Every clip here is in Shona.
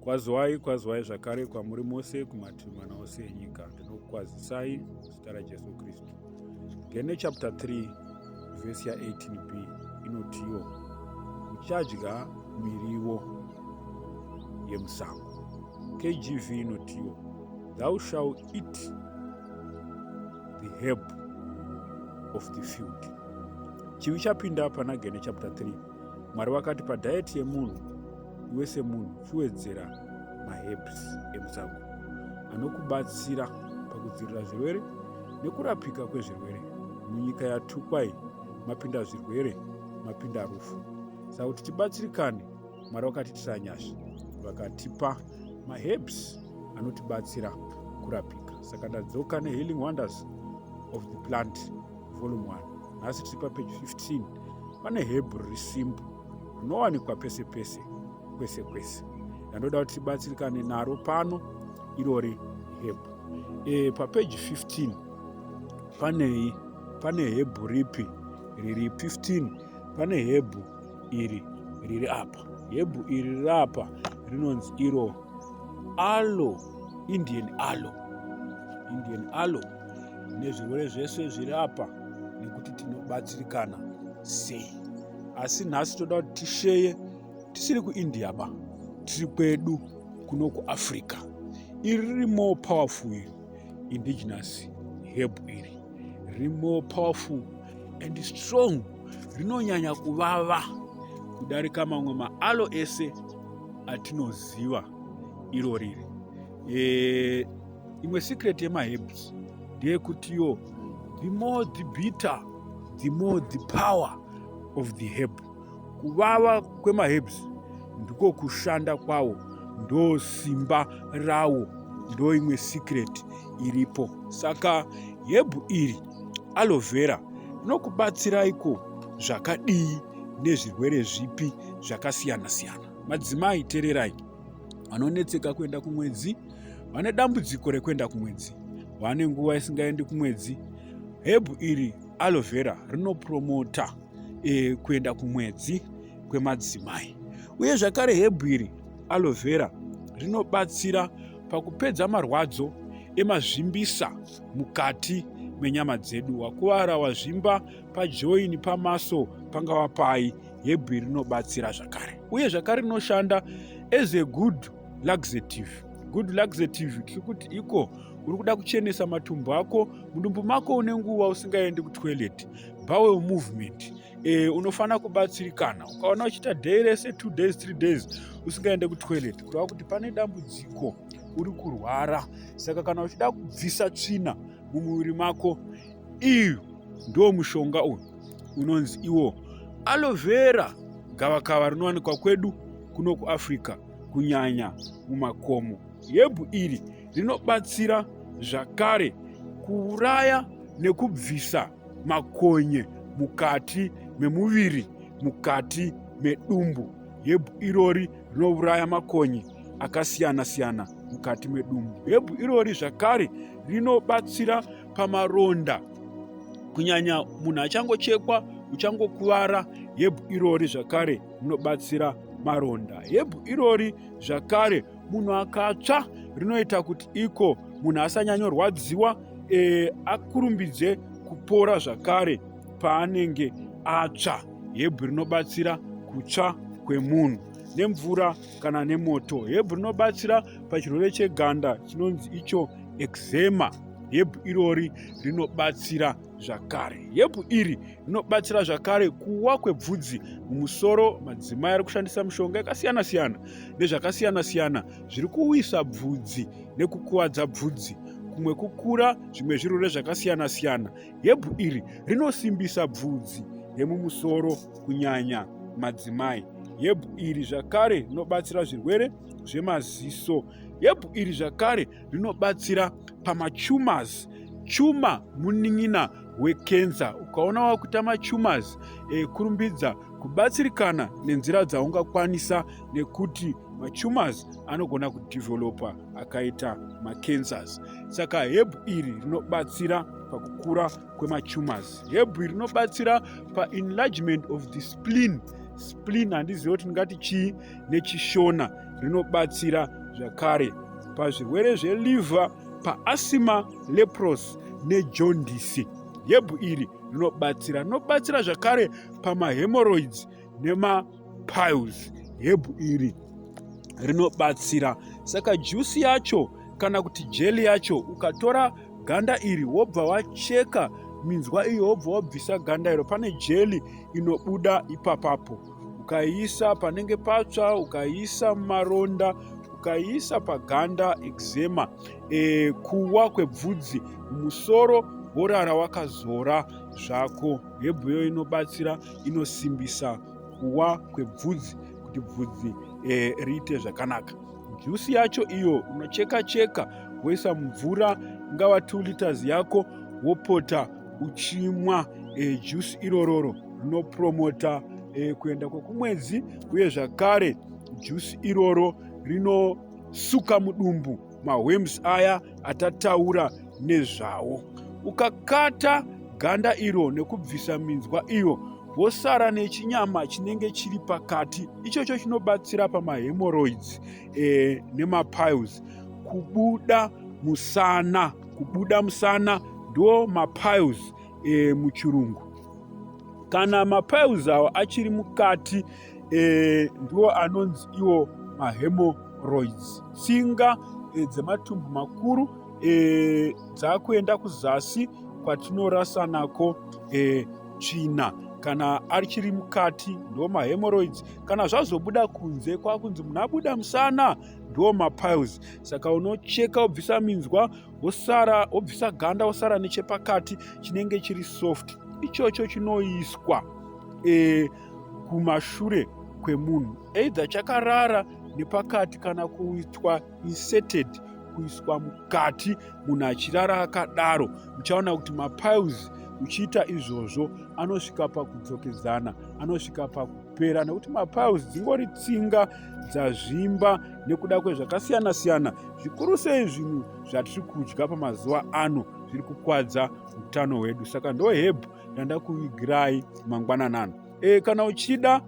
Kwazwai, kwazwai zvakare kwamuri mose kumativi mana ose enyika. Ndinokukwazisai zita raJesu Kristu. Gene chapter 3 vhesi ya18b inotiwo uchadya miriwo yemusango. KGV inotiwo thou shall eat the herb of the field. Chivi chapinda pana Gene chapter 3 Mwari vakati padiet yemunhu iwe semunhu chiwedzera maherbs emusango anokubatsira pakudzivirira zvirwere nekurapika kwezvirwere munyika yatukwai mapinda zvirwere mapinda rufu saka kuti tibatsirikane mwari vakati tisanyasha vakatipa maherbs anotibatsira kurapika saka ndadzoka nehealing wonders of the plant volume 1 nhasi tiri papeji 15 pane hebrew resimbu rinowanikwa pese pese kwese kwese yandoda kuti tibatsirikane naro pano irori hebrew e, papeji 15 panei pane hebrew ripi riri 15 pane hebrew iri riri apa hebrew iri riri apa rinonzi iro alo indian alo indian alo nezvirwere zvese zviri apa nekuti tinobatsirikana sei asi nhasi toda kuti tisheye tisiri kuindia ba tiri kwedu kuno kuafrica iri riri more powerful iri indigenous heb iri riri more powerful and strong rinonyanya kuvava kudarika mamwe maalo ese atinoziva iro riri e, imwe secret yemaherbs ndeyekutiwo the more the bitter the more the power of the herb kuvava kwemaherbs ndiko kushanda kwawo ndo simba rawo ndo imwe secret iripo saka hebhu iri aloe vera rinokubatsiraiko zvakadii nezvirwere zvipi zvakasiyana siyana madzimai tererai vanonetseka kuenda kumwedzi vane dambudziko rekuenda kumwedzi vane nguva isingaendi kumwedzi hebhu iri aloe vera rinopromota e, kuenda kumwedzi kwemadzimai uye zvakare hebhu iri aloe vera rinobatsira pakupedza marwadzo emazvimbisa mukati menyama dzedu wakuvara wazvimba pajoini pamaso pangava pai hebhu iri rinobatsira zvakare uye zvakare rinoshanda as a good laxative good laxative tiri kuti iko uri kuda kuchenesa matumbu ako mudumbu mako une nguva usingaendi kutoilet bowel movement e, unofanira kubatsirikana ukaona uchiita day rese two days three days usingaende kutoilet kureva kuti pane dambudziko uri kurwara saka kana uchida kubvisa tsvina mumuviri mako iyo ndo mushonga uyu unonzi iwo alovera gavakava rinowanikwa kwedu kuno kuafrica kunyanya mumakomo. Yebhu iri rinobatsira zvakare kuuraya nekubvisa makonye mukati memuviri, mukati medumbu. Yebhu irori rinouraya makonye akasiyana siyana mukati medumbu. Yebhu irori zvakare rinobatsira pamaronda kunyanya munhu achangochekwa uchangokuvara yebhu irori zvakare rinobatsira maronda. Hebhu irori zvakare munhu akatsva rinoita kuti iko munhu asanyanyorwadziwa e, akurumbidze kupora zvakare paanenge atsva. Hebhu rinobatsira kutsva kwemunhu nemvura kana nemoto. Hebhu rinobatsira pachirwere cheganda chinonzi icho eczema. Hebhu irori rinobatsira zvakare. Herbhu iri rinobatsira zvakare kuwa kwebvudzi mumusoro. Madzimai ari kushandisa mishonga yakasiyana siyana nezvakasiyana siyana zviri kuwisa bvudzi nekukuvadza bvudzi kumwe kukura zvimwe zvirwere zvakasiyana siyana. Herbhu iri rinosimbisa bvudzi remumusoro kunyanya madzimai. Herbhu iri zvakare rinobatsira zvirwere zvemaziso. Herbhu iri zvakare rinobatsira pamachumas chuma munin'ina wekenza ukaona wakuita machumas e, kurumbidza kubatsirikana nenzira dzaungakwanisa nekuti machumas anogona kudevelopa akaita macancers saka hebhu iri rinobatsira pakukura kwemachumas hebhu iri rinobatsira paenlargement of the splin splin handizive kuti ndingati chii neChishona rinobatsira zvakare pazvirwere zveliver paasima lepros nejondisi yebhu iri rinobatsira rinobatsira zvakare pamahemoroids nemapiles yebhu iri rinobatsira saka jusi yacho kana kuti jeli yacho ukatora ganda iri wobva wacheka minzwa iyo wobva wabvisa ganda iro pane jeli inobuda ipapapo ukaiisa panenge patsva ukaiisa mumaronda ukaiisa paganda eczema e, kuwa kwebvudzi musoro worara wakazora zvako hebhuyo inobatsira inosimbisa kuwa kwebvudzi kuti bvudzi e, riite zvakanaka Juice yacho iyo unocheka cheka woisa mumvura ingava 2 liters yako wopota uchimwa e, juice irororo rinopromota e, kuenda kwekumwedzi uye zvakare juice iroro rinosuka mudumbu mahwems aya atataura nezvawo. Ukakata ganda iro nekubvisa minzwa iyo wosara nechinyama chinenge chiri pakati ichocho chinobatsira pamahemorrhoids e, nemapiles kubuda musana kubuda musana ndo mapiles e, muchirungu kana mapiles awo achiri mukati e, ndiwo anonzi iwo mahemorrhoids tsinga e, dzematumbu makuru e, dzakuenda kuzasi kwatinorasa nako e, tsvina kana achiri mukati ndiwo mahemorrhoids kana zvazobuda kunze kwakunzi munhu abuda musana ndiwo mapiles saka unocheka wobvisa minzwa wosara wobvisa ganda wosara nechepakati chinenge chiri soft ichocho chinoiswa e, kumashure kwemunhu either chakarara nepakati kana kuitwa inserted kuiswa mukati munhu achirara akadaro muchaona kuti mapiles uchiita izvozvo anosvika pakudzokedzana anosvika pakupera nekuti mapiles dzingori tsinga dzazvimba nekuda kwezvakasiyana siyana zvikuru sei zvinhu zvatiri kudya pamazuva ano zviri kukwadza utano hwedu saka ndohebhu yandakuvigirai mangwanani ano e, kana uchida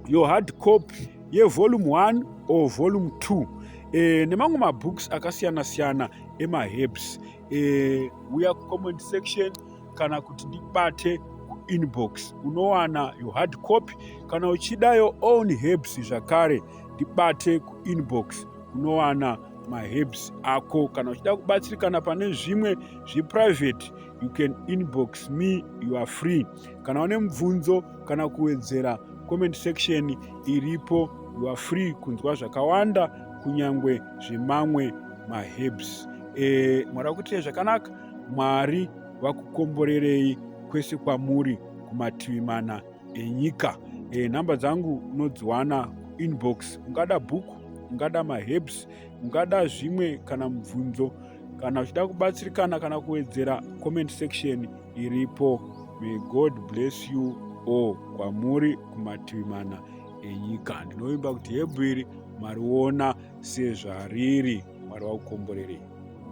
your hard copy yevolume 1 or volume 2 e, eh, nemamwe mabooks akasiyana siyana emaherbs e, eh, uya kucomment section kana kuti ndibate kuinbox unowana your hard copy kana uchida your own herbs zvakare ndibate kuinbox unowana maherbs ako kana uchida kubatsirikana pane zvimwe zveprivate you can inbox me you are free kana une mubvunzo kana kuwedzera comment section iripo you are free kunzwa zvakawanda kunyange zvemamwe maherbs e, eh, mwari vakuitire zvakanaka mwari vakukomborerei kwese kwamuri kumativi mana enyika e, nhamba dzangu unodziwana kuinbox ungada bhuku ungada maherbs ungada zvimwe kana mubvunzo kana uchida kubatsirikana kana kuwedzera comment section iripo may god bless you all kwamuri kumativi mana enyika ndinovimba kuti hebhu iri mariona sezvariri mwari vakukomborerei